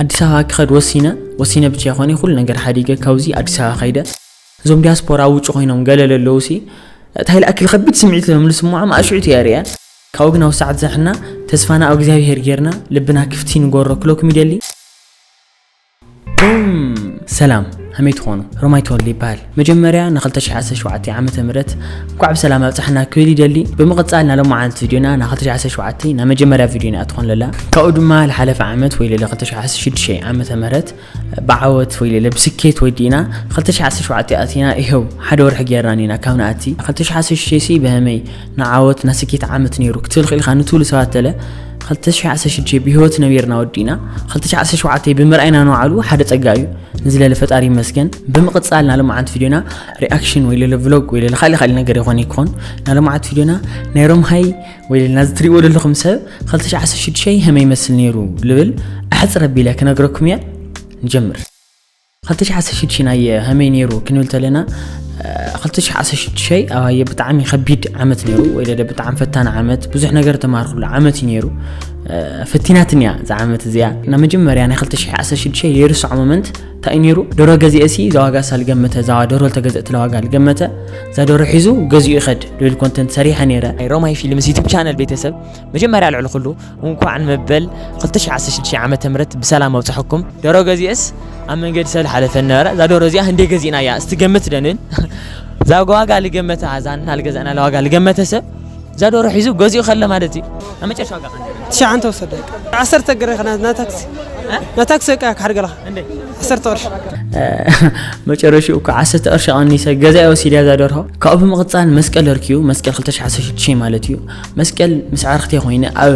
ኣዲስ ኣበባ ክኸድ ወሲነ ወሲነ ብቻ ይኾነ ኩሉ ነገር ሓዲገ ካብዚ ኣዲስ ኣበባ ከይደ እዞም ዲያስፖራ ኣብ ውጭ ኮይኖም ገለ ለለዉ ሲ እንታይ ልኣክል ከቢድ ስምዒት ሎም ልስምዖም ኣሽዑት እየ ርያ ካብኡ ግን ኣብ ሰዓት ዛሕና ተስፋና ኣብ እግዚኣብሄር ጌርና ልብና ክፍቲ ንጎሮ ክለኩም ይደሊ ሰላም ሃመይ ትኾኑ ሮማይ ተወልደ ይበሃል መጀመርያ ን ክልተ ሽሕ ዓሰርተ ሸውዓተ ዓመተ ምህረት እንኳዕ ብሰላም ኣብፀሐና ክብል ይደሊ ብምቅፃል ናይ ሎማዓንቲ ቪድዮና ናይ ክልተ ሽሕ ዓሰርተ ሸውዓተ ናይ መጀመርያ ቪድዮና እያ ትኾን ለላ ካብኡ ድማ ልሓለፈ ዓመት ወይ ለለ ክልተ ሽሕ ዓሰርተ ሽዱሽተ ዓመተ ምህረት ብዓወት ወይ ለለ ብስኬት ወዲእና ክልተ ሽሕ ዓሰርተ ሸውዓተ ኣቲና ይኸው ሓደ ወርሒ ገይርና ኒና ካብ ንኣቲ ክልተ ሽሕ ዓሰርተ ሽዱሽተ ሲ በሀመይ ንዓወት ናይ ስኬት ዓመት ነይሩ ክትብል ክኢልካ ንትብሉ ሰባት ተለ ክልተ ሽሕ ዓሰርተ ሽዱሽተ ብሂወት ነቢርና ወዲእና ክልተ ሽሕ ዓሰርተ ሸውዓተ ብምርኣይና ንባዕሉ ሓደ ፀጋ እዩ ንዝለለ ፈጣሪ ይመስገን ብምቕጻል ናሎማዓንቲ ቪድዮና ሪኣክሽን ወይ ለለ ቭሎግ ወይ ለለ ካልእ ካልእ ነገር ይኾን ይኮን ናሎማዓንቲ ቪድዮና ናይ ሮምሃይ ወይ ለለ ናዚ ትሪእዎ ዘለኹም ሰብ 2016 ሀመ ይመስል ነይሩ ልብል ኣሕፅር ኣቢለ ክነግረኩም እየ ንጀምር 2016 ናይ ሀመይ ነይሩ ክንብል ተለና 2016 ኣባየ ብጣዕሚ ከቢድ ዓመት ነይሩ ወይ ለለ ብጣዕሚ ፈታኒ ዓመት ብዙሕ ነገር ተማርኩሉ ዓመት እዩ ነይሩ ፈቲናትኒ እያ እዛ ዓመት እዚኣ ናይ መጀመርያ ናይ 2016 የርስዖ ሞመንት እንታይ ነይሩ ደሮ ገዚኤሲ እዛ ዋጋ ሳል ገመተ እዛ ደሮ ተገዘእትላ ዋጋ ልገመተ እዛ ደሮ ሒዙ ገዚኡ ይኸድ ልብል ኮንተንት ሰሪሐ ነይረ ናይ ሮማይ ፊልምስ ዩቱብ ቻነል ቤተሰብ መጀመርያ ልዕሊ ኩሉ እንኳዕ ንመበል 2016 ዓመተ ምህረት ብሰላም ኣብፅሐኩም ደሮ ገዚኤስ ኣብ መንገዲ ሰብ ልሓለፈ ነበረ እዛ ደሮ እዚኣ ህንደ ገዚእና እያ እስቲ ገምት ደንን እዛ ዋጋ ልገመተ እዛና ልገዛእና ዋጋ ልገመተ ሰብ እዛ ዶሮ ሒዙ ገዚኡ ከለ ማለት እዩ ኣብ መጨረሻ ዋጋ ትሽዓንተ ወሰደ ዓሰርተ ግረ ና ታክሲ ና ታክሲ ቃ ክሓድገላ ዓሰርተ ቅርሺ መጨረሽኡ እኮ ዓሰርተ ቅርሺ ቀኒሰ ገዛ ወሲድያ እዛ ደርሆ ካብኡ ብምቕፃል መስቀል እርክዩ መስቀል 216 ማለት እዩ መስቀል ምስ ዓርክተይ ኮይነ ኣብ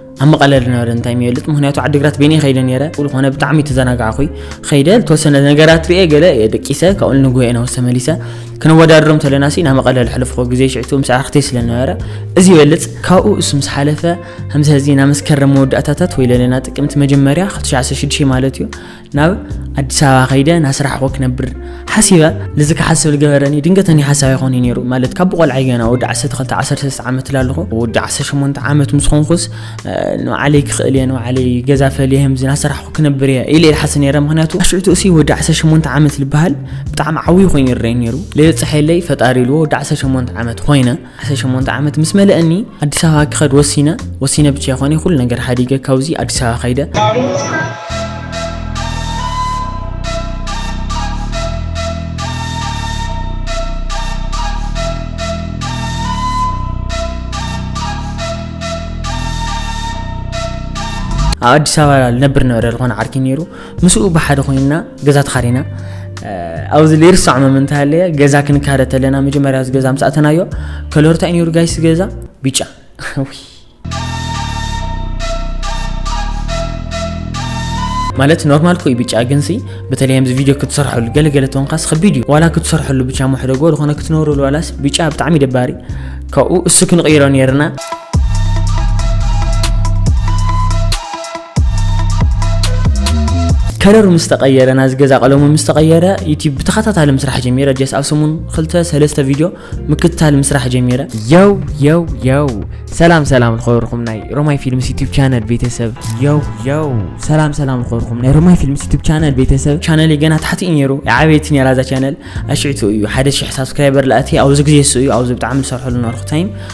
ኣብ መቐለ ዝነበረ እንታይ ይበልጥ ምክንያቱ ዓዲግራት በይነይ ከይደ ነረ ዝኾነ ብጣዕሚ ተዘናጋዕኹይ ከይደ ዝተወሰነ ነገራት ርኤ ገለ ደቂሰ ካብኡ ንጉሄ ናውስ ተመሊሰ ክነወዳድሮም ተለና ሲ ናብ መቐለ ዝሕለፍኮ ግዜ ሽዕቱ ምስ ኣርክተይ ስለነበረ እዚ ይበልፅ ካብኡ እሱ ምስ ሓለፈ ከምዚ ህዚ ናብ መስከረም መወዳእታታት ወይ ለለና ጥቅምቲ መጀመርያ 2016 ማለት እዩ ናብ ኣዲስ ኣበባ ከይደ ናስራሕኹ ክነብር ሓሲበ ልዚ ክሓስብ ዝገበረኒ ድንገተኒ ሓሳብ ኣይኮነ ነይሩ ማለት ካብ ብቆልዓይ ገና ወዲ 1213 ዓመት ላለኹ ወዲ 18 ዓመት ምስ ኾንኩስ ንባዕለይ ክኽእል እየ ንባዕለይ ገዛ ፈልየ ህምዚ ናሰራሕኩ ክነብር እየ ኢለ ኢልሓስ ነይረ ምክንያቱ ኣሽዑቱ እሲ ወዲ 18 ዓመት ዝበሃል ብጣዕሚ ዓብዩ ኮይኑ ይረአይ ነይሩ ለየፅሐለይ ፈጣሪ ኢልዎ ወዲ 18 ዓመት ኮይነ ዓሰርተ ሸሞንተ ዓመት ምስ መለእኒ ኣዲስ ኣበባ ክኸድ ወሲነ ወሲነ ብቻ ይኾነ ኩሉ ነገር ሓዲገ ካብዚ ኣዲስ ኣበባ ከይደ ኣብ ኣዲስ ኣበባ ልነብር ነበረ ዝኾነ ዓርኪ ነይሩ ምስኡ ብሓደ ኮይንና ገዛ ተኻሪና ኣብዚ ዘይርሳዕ መም እንታይ ኣለየ ገዛ ክንካረ ተለና መጀመርያ እዚ ገዛ ምስ ኣተናዮ ከለርታ ኢንዩር ጋይስ ገዛ ቢጫ ማለት ኖርማል ኮይ ብጫ ግን ሲ በተለይ ኣብዚ ቪድዮ ክትሰርሐሉ ገለገለ ተንካስ ከቢድ እዩ ዋላ ክትሰርሐሉ ብቻ መሕደጎ ዝኾነ ክትነብረሉ ዋላስ ብጫ ብጣዕሚ ደባሪ ካብኡ እሱ ክንቕይሮ ነርና ከለሩ ምስ ተቀየረ ናዚ ገዛ ቀለሙ ምስ ተቀየረ ዩቲብ ብተኸታታሊ ምስራሕ ጀሚረ ጀስ ኣብ ሰሙን ክልተ ሰለስተ ቪድዮ ምክትታል ምስራሕ ጀሚረ የው የው የው ሰላም ሰላም ዝኸበርኩም ናይ ሮማይ ፊልምስ ዩቲብ ቻነል ቤተሰብ የው የው ሰላም ሰላም ዝኸበርኩም ናይ ሮማይ ፊልምስ ዩቲብ ቻነል ቤተሰብ ቻነል ገና ታሕቲ እዩ ነይሩ ዓበይቲ ነራ እዛ ቻነል ኣሽዕቱ እዩ ሓደ ሽሕ ሳብስክራይበር ላእቲ ኣብዚ ግዜ እሱ እዩ ኣብዚ ብጣዕሚ ዝሰርሐሉ ነበርኩ ታይም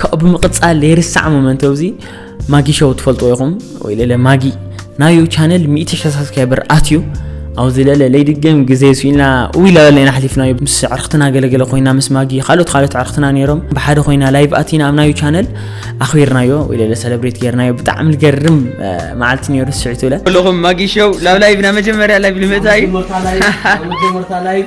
ካብኡ ብምቕጻል ዘይርሳዕ ሞመንት እዚ ማጊ ሾው ትፈልጥዎ ኢኹም ወይ ለለ ማጊ ናዩ ቻነል ሚእቲ ሽሕ ሳብስክራይበር ኣትዩ ኣብዚ ለለ ለይድገም ግዜ ስኢልና ውይ ላበለና ሓሊፍናዩ ምስ ዕርክትና ገለገለ ኮይና ምስ ማጊ ካልኦት ካልኦት ዕርክትና ነይሮም ብሓደ ኮይና ላይቭ ኣቲና ኣብ ናዩ ቻነል ኣኽቢርናዮ ወይ ለለ ሰለብሬት ገይርናዮ ብጣዕሚ ዝገርም መዓልቲ ነይሩ ስዒት ብለ ኣለኹም ማጊ ሾው ላብ ላይቭ ናይ መጀመርያ ላይቭ ልመታ እዩ መጀመርታ ላይቭ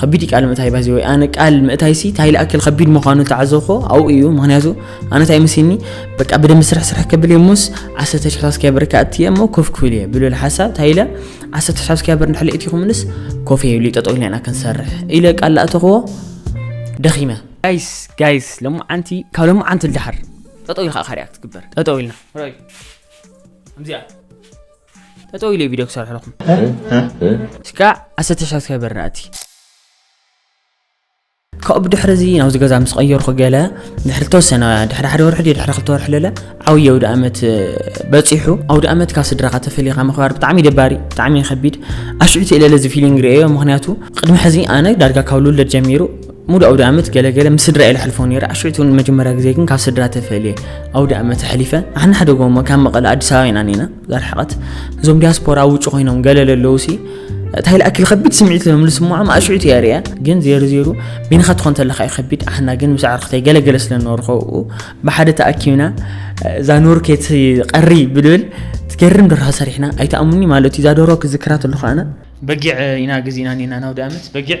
ከቢድ እዩ ቃል ምእታይ ባዚ ወይ ኣነ ቃል ምእታይሲ እንታይ ልኣክል ከቢድ ምዃኑ ተዓዘብኮ ኣብኡ እዩ ምክንያቱ ኣነ እንታይ መሲኒ በቃ ብደንብ ስራሕ ስራሕ ከብል እየ ሞስ ዓሰርተ ሽሕ ሳብስክራይበር እካ እትየ እሞ ኮፍ ክብል እየ ብልብል ሓሳብ እንታይ ኢለ ዓሰርተ ሽሕ ሳብስክራይበር ንድሕሪ እቲ ክምልስ ኮፍ እየ ይብሉ ጠጠው ኢልና ኢና ክንሰርሕ ኢለ ቃል ላእተኽዎ ደኺመ ጋይስ ጋይስ ሎሚ ዓንቲ ካብ ሎሚ ዓንቲ ልድሓር ጠጠው ኢልካ ካሪያ ክትግበር ጠጠው ኢልና ከምዚኣ ጠጠው ኢለ ቪድዮ ክሰርሕ ኣለኹም እስካ ዓሰርተ ሳብስክራይበር ናእቲ ካብኡ ብድሕሪ እዚ ናብዚ ገዛ ምስ ቀየርኩ ገለ ድሕሪ ተወሰነ ድሕሪ ሓደ ወርሒ ድዩ ድሕሪ ክልተ ወርሒ ለለ ዓብዪ ኣውደ ኣመት በፂሑ ኣውደ ኣመት ካብ ስድራኻ ተፈሊኻ ምኽባር ብጣዕሚ ደባሪ ብጣዕሚ ከቢድ ኣሽዑቲ ኢለለ እዚ ፊሊንግ ርእዮ ምክንያቱ ቅድሚ ሕዚ ኣነ ዳርጋ ካብ ልውለድ ጀሚሩ ሙሉእ ኣውደኣመት ገለ ገለ ምስ ስድራ'የ ለሕልፎ ነይረ። ኣሸይቱ ንመጀመርያ ግዜ ግን ካብ ስድራ ተፈልየ ኣውደኣመት ኣሕሊፈ። ንሕና ሓደ ጎማ ካብ መቐለ ኣዲስ ኣበባ ኢና ኔና ዛርሕቐት። እዞም ዲያስፖራ ኣብ ውጭ ኮይኖም ገለ ለለውሲ እንታይ ልኣክል ከቢድ ስምዒት እዮም ልስምዖም ኣሽዑት እያ ርያ ግን ዜሩ ዜሩ ቢንኻ ትኾን ተለካ እዩ ከቢድ ኣሕና ግን ምስ ኣዕርክተይ ገለገለ ስለ ኖርኸ ብሓደ ተኣኪብና እዛ ኖር ኬት ቀሪ ብልብል ትገርም ደርሖ ሰሪሕና ኣይተኣሙኒ ማለት እዩ እዛ ዶሮ ክዝክራ ተለኹ ኣነ በጊዕ ኢና ግዜና ኔና ናውዲ ኣመት በጊዕ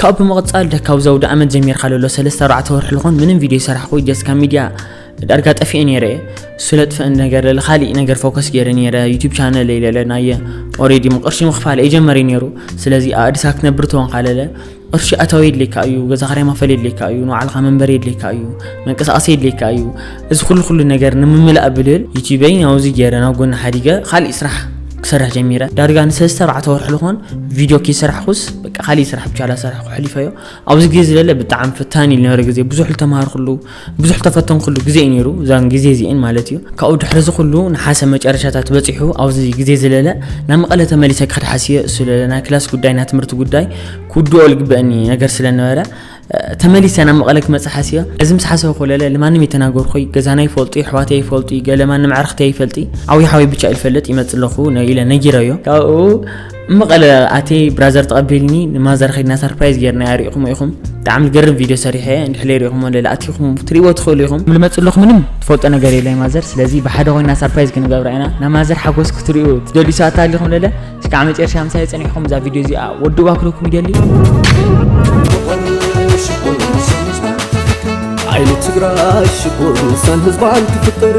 ካብኡ ብምቕጻል ደካብ ዘውዲ ኣመት ጀሚርካ ለሎ ሰለስተ ኣርባዕተ ወርሒ ልኾን ምንም ቪድዮ ይሰራሕኩ ጀስ ካብ ሚድያ ዳርጋ ጠፊኤ ነይረ እሱለ ጥፍእ ነገር ለለ ካሊእ ነገር ፎከስ ገይረ ነይረ ዩቱብ ቻነል ለለ ናየ ኦሬዲ ምቕርሺ ምኽፋል እየጀመረ ነይሩ ስለዚ ኣእድሳ ክትነብር ተወንካ ለለ ቅርሺ ኣታዊ የድልየካ እዩ፣ ገዛ ክራይ መኽፈሊ የድልየካ እዩ፣ ንባዕልኻ መንበሪ የድልየካ እዩ፣ መንቀሳቐሲ የድልየካ እዩ፣ እዚ ኩሉ ኩሉ ነገር ንምምላእ ብልል ዩትዩበይ ናብዚ ገይረ ናብ ጎኒ ሓዲገ ካሊእ ስራሕ ክሰርሕ ጀሚረ ዳርጋ ንሰለስተ ኣርባዕተ ወርሒ ዝኾን ቪድዮ ከይሰራሕኩስ በቃ ካሊእ ስራሕ ብቻ ዳሰርሕኩ ኣሕሊፈዮ ኣብዚ ግዜ ዝለለ ብጣዕሚ ፈታኒ እዩ ዝነበረ ግዜ ብዙሕ ዝተምሃርኩሉ ብዙሕ ተፈተንኩሉ ግዜ እዩ ነይሩ እዛን ግዜ እዚኤን ማለት እዩ ካብኡ ድሕሪ እዚ ኩሉ ንሓሰ መጨረሻታት በፂሑ ኣብዚ ግዜ ዝለለ ናብ መቐለ ተመሊሰ ክኸድ ሓስየ ስለለ ናይ ክላስ ጉዳይ ናይ ትምህርቲ ጉዳይ ክውድኦ ልግበአኒ ነገር ስለነበረ ተመሊሰ ናብ መቐለ ክመፅእ ሓስየ እዚ ምስ ሓሰበ ኮለለ ልማንም የተናገርኩይ ገዛና ይፈልጡ ይሕዋት ይፈልጡ ገለማን ንምዕርኽቲ ይፈልጢ ዓብዪ ሓወይ ብቻ ይፈልጥ ይመፅ ኣለኹ ኢለ ነጊረዮ ካብኡ መቐለ ኣትየ ብራዘር ተቐቢልኒ ንማዘር ኸድና ሰርፕራይዝ ጌርናያ ሪኢኹሞ ኢኹም ብጣዕሚ ዝገርም ቪድዮ ሰሪሐ እንድሕለይ ሪኢኹሞ ለለ ኣትኹም ትሪእዎ ትኽእሉ ኢኹም ልመፅ ኣለኹ ምንም ትፈልጦ ነገር የለ ማዘር ስለዚ ብሓደ ኮይና ሰርፕራይዝ ክንገብራ ኢና ናይ ማዘር ሓጎስ ክትሪኡ ትደልዩ ሰባት ኣሊኹም ለለ እስካዕ መጨረሻ ምሳይ ፀኒሕኹም እዛ ቪድዮ እዚኣ ወድዋ ክለኩም ይደሊ ዓይኒ ትግራይ ሽኮር ንሳን ህዝባን ትፍጠር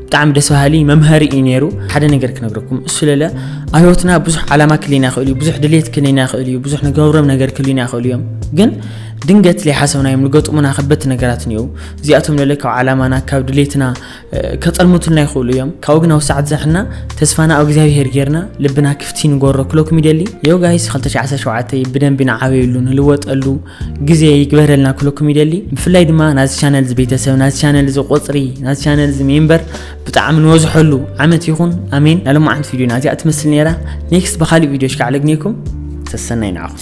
ብጣዕሚ ደስ በሃሊ መምሃሪ እዩ ነይሩ ሓደ ነገር ክነግረኩም እሱ ለለ ኣብ ህይወትና ብዙሕ ዓላማ ክልዩና ይኽእል እዩ ብዙሕ ድሌት ክልዩና ይኽእል እዩ ብዙሕ ንገብሮም ነገር ክልዩና ይኽእሉ እዮም ግን ድንገት ዘይሓሰብናዮም ዝገጥሙና ከበድቲ ነገራት እኒአው እዚኣቶም ለለ ካብ ዓላማና ካብ ድሌትና ከጠልሙትልና ይኽእሉ እዮም ካብኡ ግን ኣብ ሰዓት ዘሕና ተስፋና ኣብ እግዚኣብሄር ጌርና ልብና ክፍቲ ንጎሮ ክለኩም ይደሊ የው ጋይስ 2017 ብደንቢ ንዓበየሉ ንልወጠሉ ግዜ ይግበረልና ክለኩም ይደሊ ብፍላይ ድማ ናዚ ቻነል እዚ ቤተሰብ ናዚ ቻነል እዚ ቆፅሪ ናዚ ቻነል እዚ ሜምበር ብጣዕሚ ንወዝሐሉ ዓመት ይኹን ኣሜን ናይ ሎማዓንቲ ቪድዮ ናዚኣ ትመስል ነይራ ኔክስት ብካሊእ ቪድዮ ሽካዕ ለግኔኩም ሰሰናይ ንዓኹም